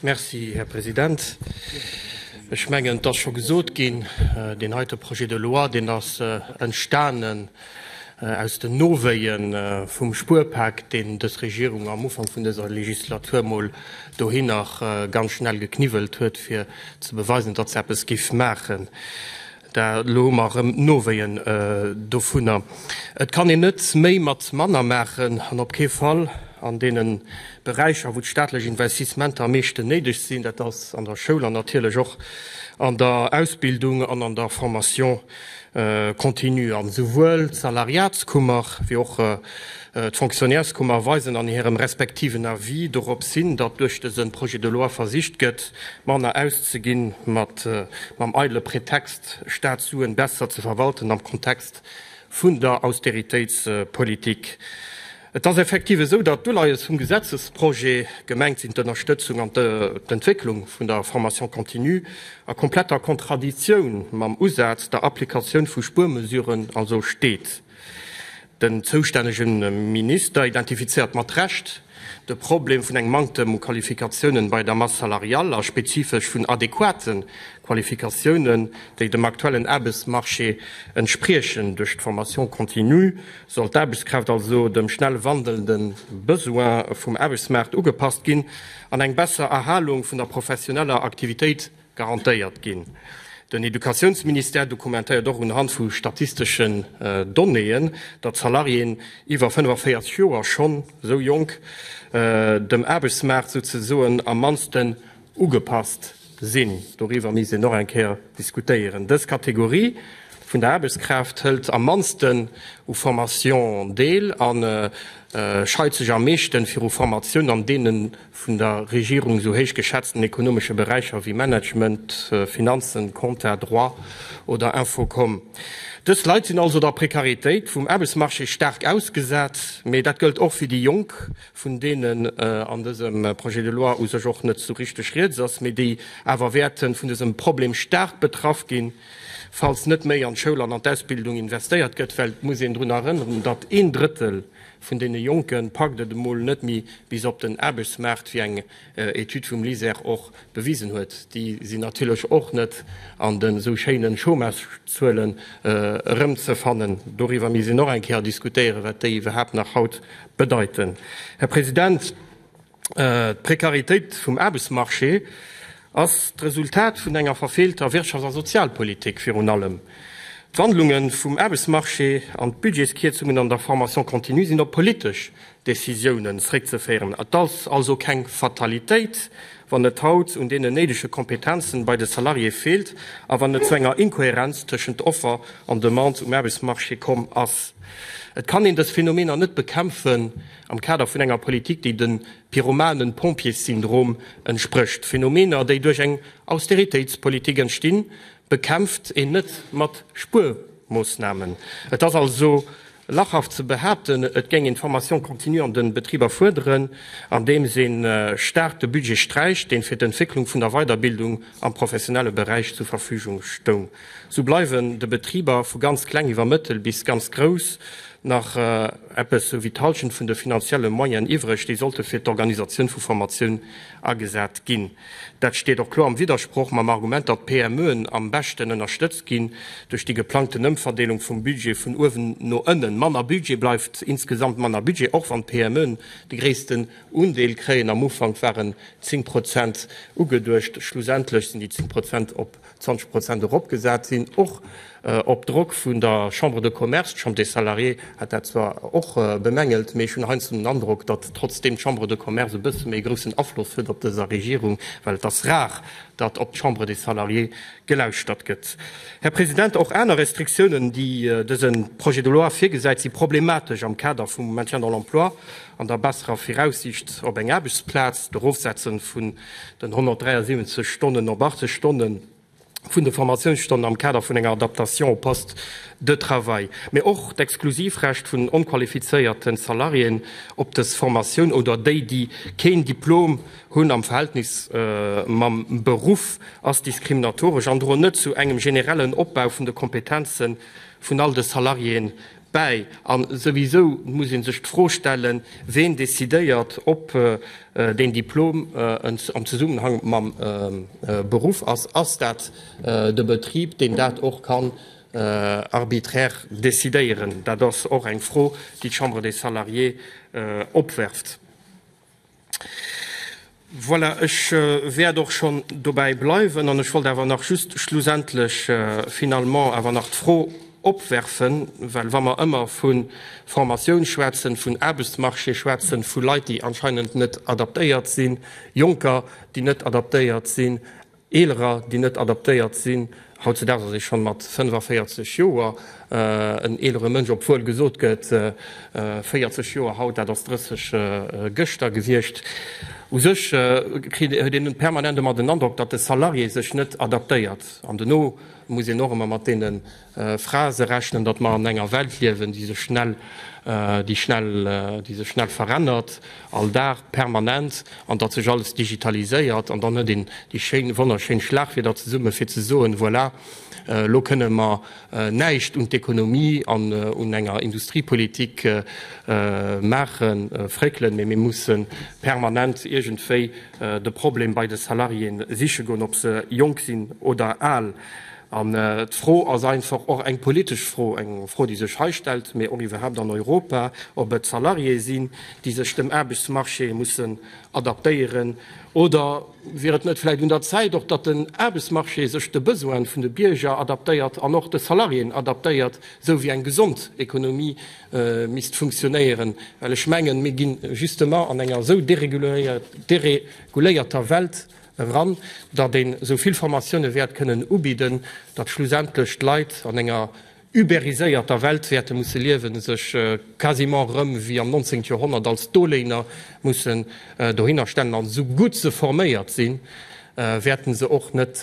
Merci, Här President. Ech mengen, et ass scho gesot ginn, Deen heite Projet de loi, deen ass entstanen aus den Nowéie vum Spuerpak, deen dës Regierung am Ufank vun dëser Legislatur mol dohi nach ganz schnell gekniwwelt huet, fir ze beweisen, datt se eppes géif maachen. Da elo hu mer erëm Nowéien dovunner. Et kann een net méi mat manner maachen an op kee Fall an deene Beräicher, wou d'staatlech Investissementer am meeschten néideg sinn, dat ass an der Schoul an natierlech och an der Ausbildung an an der Formation continue. A souwuel d'Salariatskummer wéi och D'Fonctionnaireskummer weisen an hirem respektiven Avis dorops hin, datt duerch dëse Projet de loi versicht gëtt, manner auszeginn, mat mam eidele Pretext, Staatssuen besser ze verwalten am Kontext vun der Austeritéitspolitik. Et ass effektiv esou, datt d'Uleies vum Gesetzesprojet gemengt sinn, d'Ënnerstëtzung an d'Entwécklung vun der Formation continue a kompletter Kontraditioun mam Usaz, der Applikatioun vu Spuermesuren also steet. Den zoustännege Minister identifizéiert mat Recht de Problem vun engem Manktem u Qualifikatiounen bei der Masse salariale a spezifesch vun adequate Qualifikatiounen, déi dem aktuellen Aarbechtsmarché entspriechen. Duerch d'Formation continue soll d'Aarbechtskraaft also dem schnell wandelnde Besoin vum Aarbechtsmaart ugepasst ginn an eng besser Erhalung vun der professioneller Aktivitéit garantéiert ginn. Den Educatiounsministère dokumentéiert och unhand vu statisteschen Donnéeën, datt Salariéen iwwer 45 Joer schonn esou jonk dem Aarbechtsmaart souzesoen am mannsten ugepasst sinn. Doriwwer misst een och eng Kéier diskutéieren. Dës Kategorie vun der Aarbechtskraaft hëlt am mannsten u Formation deel a scheit sech am meeschte viru Formatiounen, an deenen vun der Regierung esou héich geschätzten ekonomesche Beräicher wéi Management, Finanzen, Compta, Droit oder Infocom. Dës Leit sinn also der Prekaritéit vum Aarbechtsmarché staark ausgesat, mee dat gëllt och fir déi Jonk, vun deenen an dësem Projet de loi u sech och net esou richteg rieds ass, mee déi awer wäerte vun dësem Problem staark betraff ginn, falls net méi an d'Schoul an an d'Ausbildung investéiert gëtt, well et muss een drun erënneren, datt een Drëttel Vun deene Jonke packt et emol net méi bis op den Aarbechtsmaart, wéi eng Etüd vum LISER och bewisen huet. Déi sinn natierlech och net an de sou schéine Chômagezuelen erëmzefannen. Doriwwer misst een och eng Kéier diskutéieren, wat déi iwwerhaapt nach haut bedeiten. Här President, D'Prekaritéit vum Aarbechtsmarché ass d'Resultat vun enger verfeelter Wirtschafts a Sozialpolitik. Virun allem d'Wandlunge vum Aarbechtsmarché an d'Budgetskierzungen an der Formation continue sinn op politesch Decisiounen zréckzeféieren. Et ass also keng Fatalitéit, wann et haut un deenen néidege Kompetenze bei de Salariéë feelt a wann et zu enger Inkohärenz tëschent Offer an Demande um Aarbechtsmarché komm ass. Et kann een dës Phänomener net bekämpfen, am Kader vun enger Politik, déi dem Pyromanen-Pompjees-Syndrom entsprécht, Phänomener, déi duerch eng Austeritéitspolitik entstinn, bekämpft een net mat Spuermoossnamen. Et ass also lachhaft ze behaapten, et géing een d'Formation continue an de Betriber fuerderen, andeems ee staark de Budget sträicht, dee fir d'Entwécklung vun der Weiderbildung am professionelle Beräich zur Verfügung stoung. Sou bleiwen de Betriber, vu ganz kleng iwwer mëttel bis ganz grouss, nach eppes sou wéi d'Halschent vun de finanzielle Moyenen iwwreg, déi sollte fir d'Organisatioun vu Formatioun agesat ginn. Dat steet och kloer am Widdersproch mam Argument, datt d'PMEen am beschten ënnerstëtzt ginn duerch déi geplangten Ëmverdeelung vum Budget vun uewen no ënnen. Manner Budget bleift insgesamt manner Budget, och wann d'PMEen de gréissten Undeel kréien. Am Ufank waren 10 Prozent ugeduecht, schlussendlech sinn déi 10 Prozent op 20 Prozent eropgesat sinn, och op Drock vun der Chambre de Commerce. D'Chambre des Salariés hat dat zwar och bemängelt, mee ech hunn heiansdo den Androck, datt trotzdeem d'Chambre de Commerce e bësse méi groussen Afloss huet op dëser Regierung, well et ass rar, datt op d'Chambre des Salariés gelauschtert gëtt. Här President, och aner Restriktiounen, déi dëse Projet de loi virgesäit, si problematesch am Kader vum Maintien dans l'emploi an der besserer Viraussiicht op eng Aarbechtsplaz. D'Erofsetze vu den 173 Stonnen op 80 Stonne vun de Formatiounsstonnen am Kader vun enger Adaptation au poste de travail, mä och d'Exklusivrecht vun onqualifizéierte Salariéen op dës Formatioun oder déi, déi keen Diplom hunn, am Verhältnis mam Beruff ass diskriminatoresch an droen net zu engem generellen Opbau vun de Kompetenze vun all de Salariéeë bäi. An souwisou muss ee sech d'Fro stellen, ween decidéiert, ob deen Diplom am Zesummenhang mam Beruff ass. Ass dat de Betrib, deen dat och kann arbitraire decidéieren? Dat ass och eng Fro, déi d'Chambre des Salariés opwerft. Voilà, ech wäert och schonn dobäi bleiwen. An ech wollt awer nach just schlussendlech, finalement, awer nach d'Fro opwerfen, well wa mer ëmmer vu Formatioun schwätzen, vun Aarbechtsmarché schwätzen, vu Leit, déi anscheinend net adaptéiert sinn, Jonker, déi net adaptéiert sinn, Eelerer, déi net adaptéiert sinn. Hautzedaags ass ee schonn mat 45 Joer en eelere Mënsch, obwuel gesot gëtt, 40 Joer haut, dat ass 30 gëschter gewiescht. U sech huet een permanent ëmmer den Androck, datt de Salarié sech net adaptéiert an dono muss een och ëmmer mat deene Frae se rechnen, datt mer an enger Welt liewen, déi sech schnell, déi schnell, déi sech schnell verännert, all Dag, permanent, an datt sech alles digitaliséiert. An dann huet een déi schéin, wonnerschéin Schlagwierder zesumme fir ze soen, voilà, elo kënne mer näischt un d'Ekonomie an un enger Industriepolitik maachen, fréckelen, mee mir musse permanent iergendwéi de Problem bei de Salariéen siche goen, ob se jonk sinn oder al. An d'Fro ass einfach och eng politesch Fro, eng Fro, déi sech hei stellt, mee och iwwerhaupt an Europa, ob et d'Salariéë sinn, déi sech dem Aarbechtsmarché mussen adaptéieren. Oder wier et net vläicht un der Zäit och, datt den Aarbechtsmarché sech de Besoine vun de Bierger adaptéiert an och de Salariéen adaptéiert, esou wéi eng gesond Economie misst funktionéieren? Well ech mengen, mir gi justement an enger esou dereguléierter Welt, eran, datt een esou vill Formatioune wäert kënnen ubidden, datt schlussendlech d'Leit an enger uberiséierter Welt wäerte musse liewen, sech quasiment erëm wéi am 19. Joerhonnert als Doléiner mussen dohinner stellen. An esou gutt se forméiert sinn, wäerte se och net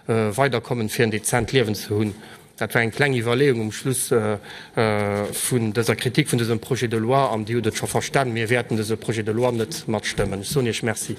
weider kommen, fir en dezent Liewen ze hunn. Dat war eng kleng Iwwerleeung um Schluss vun dëser Kritik vun dësem Projet de loi. An Dir hutt et scho verstan, mir wäerten dëse Projet de loi net matstëmmen. Ech soen Iech Merci.